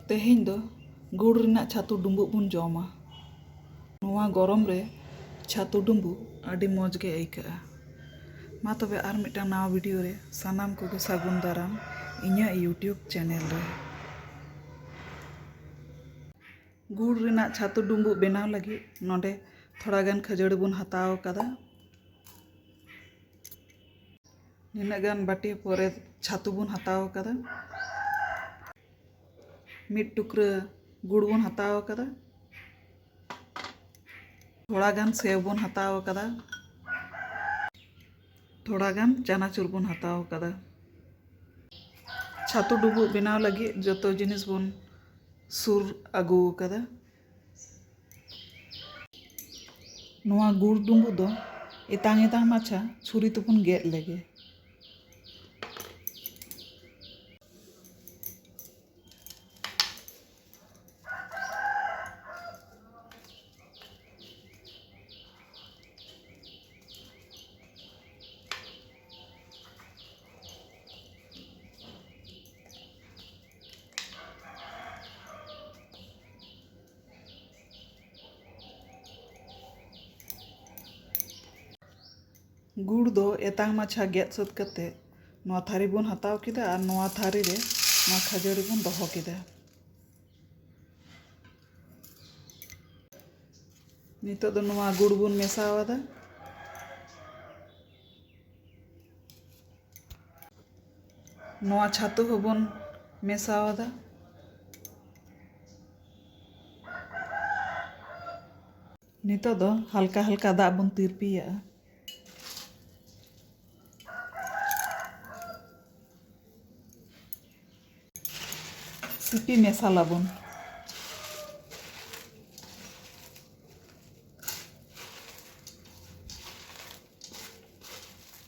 ᱛᱮᱦᱮᱧ ᱫᱚ ᱜᱩᱲ ᱨᱮᱱᱟᱜ ᱪᱷᱟᱹᱛᱩ ᱰᱩᱸᱵᱩᱜ ᱵᱚᱱ ᱡᱚᱢᱟ ᱱᱚᱣᱟ ᱜᱚᱨᱚᱢ ᱨᱮ ᱪᱷᱟᱹᱛᱩ ᱰᱩᱸᱵᱩᱜ ᱟᱹᱰᱤ ᱢᱚᱡᱽ ᱜᱮ ᱟᱹᱭᱠᱟᱹᱜᱼᱟ ᱢᱟ ᱛᱚᱵᱮ ᱟᱨ ᱢᱤᱫᱴᱟᱝ ᱱᱟᱣᱟ ᱵᱷᱤᱰᱤᱭᱳ ᱨᱮ ᱥᱟᱱᱟᱢ ᱠᱚᱜᱮ ᱥᱟᱹᱜᱩᱱ ᱫᱟᱨᱟᱢ ᱤᱧᱟᱹᱜ ᱤᱭᱩᱴᱤᱭᱩᱵᱽ ᱪᱮᱱᱮᱞ ᱨᱮ ᱜᱩᱲ ᱨᱮᱱᱟᱜ ᱪᱷᱟᱹᱛᱩ ᱰᱩᱸᱵᱩᱜ ᱵᱮᱱᱟᱣ ᱞᱟᱹᱜᱤᱫ ᱱᱚᱰᱮ ᱛᱷᱚᱲᱟ ᱜᱟᱱ ᱠᱷᱟᱹᱡᱟᱹᱲᱤ ᱵᱚᱱ ᱦᱟᱛᱟᱣ ᱟᱠᱟᱫᱟ ᱱᱤᱱᱟᱹᱜ ᱜᱟᱱ ᱵᱟᱹᱴᱤ ᱯᱚᱨᱮ ᱪᱷᱟᱹᱛᱩ ᱵᱚᱱ ᱦᱟᱛᱟᱣ ᱟᱠᱟᱫᱟ ᱢᱤᱫ ᱴᱩᱠᱨᱟᱹ ᱜᱩᱲ ᱵᱚᱱ ᱦᱟᱛᱟᱣ ᱟᱠᱟᱫᱟ ᱛᱷᱚᱲᱟ ᱜᱟᱱ ᱥᱮᱣ ᱵᱚᱱ ᱦᱟᱛᱟᱣ ᱟᱠᱟᱫᱟ ᱛᱷᱚᱲᱟ ᱜᱟᱱ ᱪᱟᱱᱟᱪᱩᱨ ᱵᱚᱱ ᱦᱟᱛᱟᱣ ᱟᱠᱟᱫᱟ ᱪᱷᱟᱹᱛᱩ ᱰᱩᱵᱩᱜ ᱵᱮᱱᱟᱣ ᱞᱟᱹᱜᱤᱫ ᱡᱚᱛᱚ ᱡᱤᱱᱤᱥ ᱵᱚᱱ ᱥᱩᱨ ᱟᱹᱜᱩ ᱟᱠᱟᱫᱟ ᱱᱚᱣᱟ ᱜᱩᱲ ᱰᱩᱸᱵᱩᱜ ᱫᱚ ᱮᱛᱟᱝ ᱮᱛᱟᱝ ᱢᱟᱪᱷᱟ ᱪᱷᱩᱨᱤ ᱛᱮᱵᱚᱱ ᱜᱮᱫ ᱞᱮᱜᱮ᱾ ᱜᱩᱲ ᱫᱚ ᱮᱛᱟᱝ ᱢᱟᱪᱷᱟ ᱜᱮᱫ ᱥᱟᱹᱛ ᱠᱟᱛᱮ ᱱᱚᱣᱟ ᱛᱷᱟᱹᱨᱤ ᱵᱚᱱ ᱦᱟᱛᱟᱣ ᱠᱮᱫᱟ ᱟᱨ ᱱᱚᱣᱟ ᱛᱷᱟᱹᱨᱤ ᱨᱮ ᱱᱚᱣᱟ ᱠᱷᱟᱹᱡᱟᱹᱲᱤ ᱵᱚᱱ ᱫᱚᱦᱚ ᱠᱮᱫᱟ ᱱᱤᱛᱚᱜ ᱫᱚ ᱱᱚᱣᱟ ᱜᱩᱲ ᱵᱚᱱ ᱢᱮᱥᱟᱣᱟᱫᱟ ᱱᱚᱣᱟ ᱪᱷᱟᱹᱛᱩ ᱦᱚᱸᱵᱚᱱ ᱢᱮᱥᱟ ᱟᱫᱟ ᱱᱤᱛᱚᱜ ᱫᱚ ᱦᱟᱞᱠᱟ ᱦᱟᱞᱠᱟ ᱫᱟᱜ ᱵᱚᱱ ᱛᱤᱨᱯᱤᱭᱟᱜᱼᱟ ᱥᱤᱯᱤ ᱢᱮᱥᱟᱞᱟᱵᱚᱱ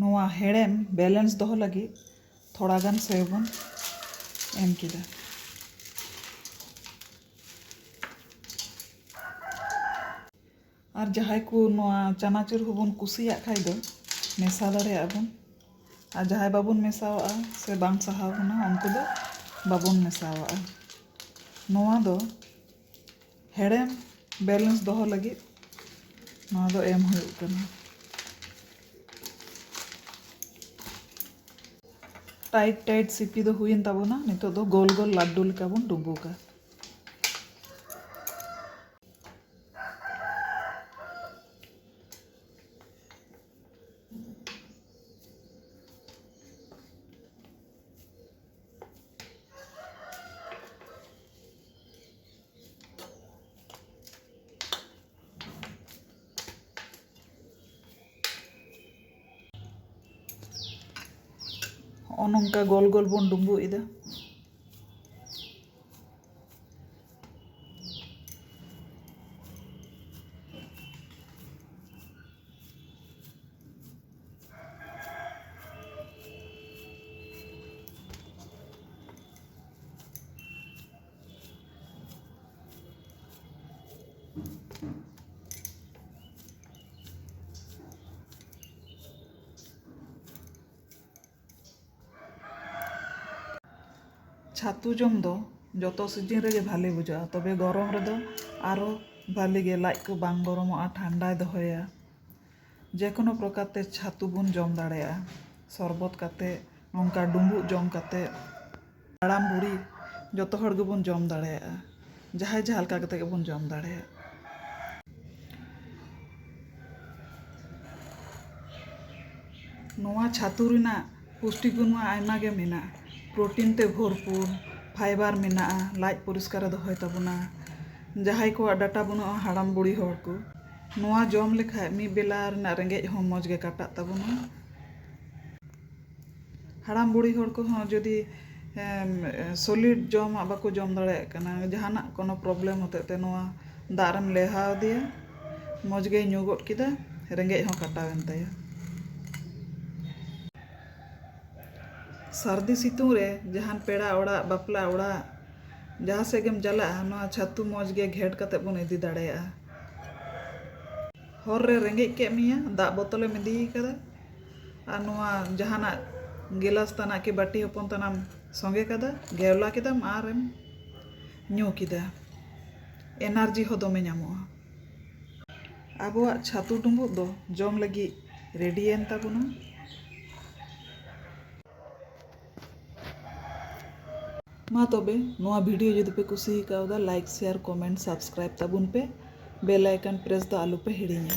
ᱱᱚᱣᱟ ᱦᱮᱲᱮᱢ ᱵᱮᱞᱮᱱᱥ ᱫᱚᱦᱚ ᱞᱟᱹᱜᱤᱫ ᱛᱷᱚᱲᱟ ᱜᱟᱱ ᱥᱮᱣ ᱵᱚᱱ ᱮᱢ ᱠᱮᱫᱟ᱾ ᱟᱨ ᱡᱟᱦᱟᱸᱭ ᱠᱚ ᱱᱚᱣᱟ ᱪᱟᱱᱟᱪᱩᱨ ᱦᱚᱸᱵᱚᱱ ᱠᱩᱥᱤᱭᱟᱜ ᱠᱷᱟᱡ ᱫᱚ ᱢᱮᱥᱟ ᱫᱟᱲᱮᱭᱟᱜᱼᱟ ᱵᱚᱱ ᱟᱨ ᱡᱟᱦᱟᱸᱭ ᱵᱟᱵᱚᱱ ᱢᱮᱥᱟᱣᱟᱜᱼᱟ ᱥᱮ ᱵᱟᱝ ᱥᱟᱦᱟᱣ ᱵᱚᱱᱟ ᱩᱱᱠᱩ ᱫᱚ ᱵᱟᱵᱚᱱ ᱢᱮᱥᱟᱣᱟᱜᱼᱟ᱾ ᱱᱚᱣᱟ ᱫᱚ ᱦᱮᱲᱮᱢ ᱵᱮᱞᱮᱱᱥ ᱫᱚᱦᱚ ᱞᱟᱹᱜᱤᱫ ᱱᱚᱣᱟ ᱫᱚ ᱮᱢ ᱦᱩᱭᱩᱜ ᱠᱟᱱᱟ ᱴᱟᱭᱤᱴ ᱴᱟᱭᱤᱴ ᱥᱤᱯᱤ ᱫᱚ ᱦᱩᱭᱮᱱ ᱛᱟᱵᱚᱱᱟ ᱱᱤᱛᱚᱜ ᱫᱚ ᱜᱳᱞ ᱜᱳᱞ ᱞᱟᱹᱰᱩ ᱞᱮᱠᱟ ᱵᱚᱱ ᱰᱩᱸᱵᱩᱜᱟ ᱦᱚᱸᱜᱼᱚ ᱱᱚᱝᱠᱟ ᱜᱳᱞ ᱜᱳᱞ ᱵᱚᱱ ᱰᱩᱸᱵᱩᱜ ᱮᱫᱟ ᱪᱷᱟᱹᱛᱩ ᱡᱚᱢ ᱫᱚ ᱡᱚᱛᱚ ᱥᱤᱡᱤᱱ ᱨᱮᱜᱮ ᱵᱷᱟᱞᱮ ᱵᱩᱡᱷᱟᱹᱜᱼᱟ ᱛᱚᱵᱮ ᱜᱚᱨᱚᱢ ᱨᱮᱫᱚ ᱟᱨᱚ ᱵᱷᱟᱞᱮ ᱜᱮ ᱞᱟᱡ ᱠᱚ ᱵᱟᱝ ᱜᱚᱨᱚᱢᱚᱜᱼᱟ ᱴᱷᱟᱱᱰᱟᱭ ᱫᱚᱦᱚᱭᱟ ᱡᱮᱠᱳᱱᱳ ᱯᱨᱚᱠᱟᱨ ᱛᱮ ᱪᱷᱟᱹᱛᱩ ᱵᱚᱱ ᱡᱚᱢ ᱫᱟᱲᱮᱭᱟᱜᱼᱟ ᱥᱚᱨᱵᱚᱛ ᱠᱟᱛᱮ ᱱᱚᱝᱠᱟ ᱰᱩᱢᱵᱩᱜ ᱡᱚᱢ ᱠᱟᱛᱮ ᱦᱟᱲᱟᱢ ᱵᱩᱲᱦᱤ ᱡᱚᱛᱚ ᱦᱚᱲ ᱜᱮᱵᱚᱱ ᱡᱚᱢ ᱫᱟᱲᱮᱭᱟᱜᱼᱟ ᱡᱟᱦᱟᱸᱭ ᱡᱟᱦᱟᱸ ᱞᱮᱠᱟ ᱠᱟᱛᱮ ᱜᱮᱵᱚᱱ ᱡᱚᱢ ᱫᱟᱲᱮᱭᱟᱜ ᱱᱚᱣᱟ ᱪᱷᱟᱹᱛᱩ ᱨᱮᱱᱟᱜ ᱯᱩᱥᱴᱤ ᱜᱩᱱ ᱢᱟ ᱟᱭᱢᱟ ᱜᱮ ᱢᱮᱱᱟᱜᱼᱟ ᱯᱨᱚᱴᱤᱱ ᱛᱮ ᱵᱷᱚᱨᱯᱩᱨ ᱯᱷᱟᱭᱵᱟᱨ ᱢᱮᱱᱟᱜᱼᱟ ᱞᱟᱡ ᱯᱚᱨᱤᱥᱠᱟᱨᱮ ᱫᱚᱦᱚᱭ ᱛᱟᱵᱚᱱᱟ ᱡᱟᱦᱟᱸᱭ ᱠᱚᱣᱟᱜ ᱰᱟᱴᱟ ᱵᱟᱹᱱᱩᱜᱼᱟ ᱦᱟᱲᱟᱢ ᱵᱩᱲᱦᱤ ᱦᱚᱲ ᱠᱚ ᱱᱚᱣᱟ ᱡᱚᱢ ᱞᱮᱠᱷᱟᱡ ᱢᱤᱫ ᱵᱮᱞᱟ ᱨᱮᱱᱟᱜ ᱨᱮᱸᱜᱮᱡ ᱦᱚᱸ ᱢᱚᱡᱽ ᱜᱮ ᱠᱟᱴᱟᱜ ᱛᱟᱵᱚᱱᱟ᱾ ᱦᱟᱲᱟᱢ ᱵᱩᱲᱦᱤ ᱦᱚᱲ ᱠᱚᱦᱚᱸ ᱡᱩᱫᱤ ᱥᱚᱞᱤᱰ ᱡᱚᱢᱟᱜ ᱵᱟᱠᱚ ᱡᱚᱢ ᱫᱟᱲᱮᱭᱟᱜ ᱠᱟᱱᱟ ᱡᱟᱦᱟᱱᱟᱜ ᱠᱚᱱᱚ ᱯᱨᱚᱵᱞᱮᱢ ᱦᱚᱛᱮᱡ ᱛᱮ ᱱᱚᱣᱟ ᱫᱟᱜ ᱨᱮᱢ ᱞᱮᱣᱦᱟ ᱟᱫᱮᱭᱟ ᱢᱚᱡᱽ ᱜᱮᱭ ᱧᱩ ᱜᱚᱫ ᱠᱮᱫᱟ ᱨᱮᱸᱜᱮᱡ ᱦᱚᱸ ᱠᱟᱴᱟᱣ ᱮᱱ ᱛᱟᱭᱟ᱾ ᱥᱟᱹᱨᱫᱤ ᱥᱤᱛᱩᱝ ᱨᱮ ᱡᱟᱦᱟᱱ ᱯᱮᱲᱟ ᱚᱲᱟᱜ ᱵᱟᱯᱞᱟ ᱚᱲᱟᱜ ᱡᱟᱦᱟᱸ ᱥᱮᱫ ᱜᱮᱢ ᱪᱟᱞᱟᱜᱼᱟ ᱱᱚᱣᱟ ᱪᱷᱟᱹᱛᱩ ᱢᱚᱡᱽ ᱜᱮ ᱜᱷᱮᱴ ᱠᱟᱛᱮ ᱵᱚᱱ ᱤᱫᱤ ᱫᱟᱲᱮᱭᱟᱜᱼᱟ᱾ ᱦᱚᱨ ᱨᱮ ᱨᱮᱸᱜᱮᱡ ᱠᱮᱫ ᱢᱮᱭᱟ ᱫᱟᱜ ᱵᱚᱛᱚᱞᱮᱢ ᱤᱫᱤ ᱠᱟᱫᱟ ᱟᱨ ᱱᱚᱣᱟ ᱡᱟᱦᱟᱱᱟᱜ ᱜᱮᱞᱟᱥ ᱛᱟᱱᱟᱜ ᱠᱤ ᱵᱟᱹᱴᱤ ᱦᱚᱯᱚᱱ ᱛᱟᱱᱟᱜ ᱥᱚᱸᱜᱮ ᱠᱟᱫᱟ ᱜᱷᱮᱣᱞᱟ ᱠᱮᱫᱟᱢ ᱟᱨᱮᱢ ᱧᱩ ᱠᱮᱫᱟ ᱮᱱᱟᱨᱡᱤ ᱦᱚᱸ ᱫᱚᱢᱮ ᱧᱟᱢᱚᱜᱼᱟ ᱟᱵᱚᱣᱟᱜ ᱪᱷᱟᱹᱛᱩ ᱰᱩᱸᱵᱩᱜ ᱫᱚ ᱡᱚᱢ ᱞᱟᱹᱜᱤᱫ ᱨᱮᱰᱤᱭᱮᱱ ᱛᱟᱵᱚᱱᱟ ᱢᱟ ᱛᱚᱵᱮ ᱱᱚᱣᱟ ᱵᱷᱤᱰᱤᱭᱳ ᱡᱩᱫᱤ ᱯᱮ ᱠᱩᱥᱤ ᱟᱠᱟᱣᱫᱟ ᱞᱟᱭᱤᱠ ᱥᱮᱭᱟᱨ ᱠᱚᱢᱮᱱᱴ ᱥᱟᱵᱥᱠᱨᱟᱭᱤᱵ ᱛᱟᱵᱚᱱ ᱯᱮ ᱵᱮᱞ ᱟᱭᱠᱚᱱ ᱯᱨᱮᱥ ᱫᱚ ᱟᱞᱚ ᱯᱮ ᱦᱤᱲᱤᱧᱟ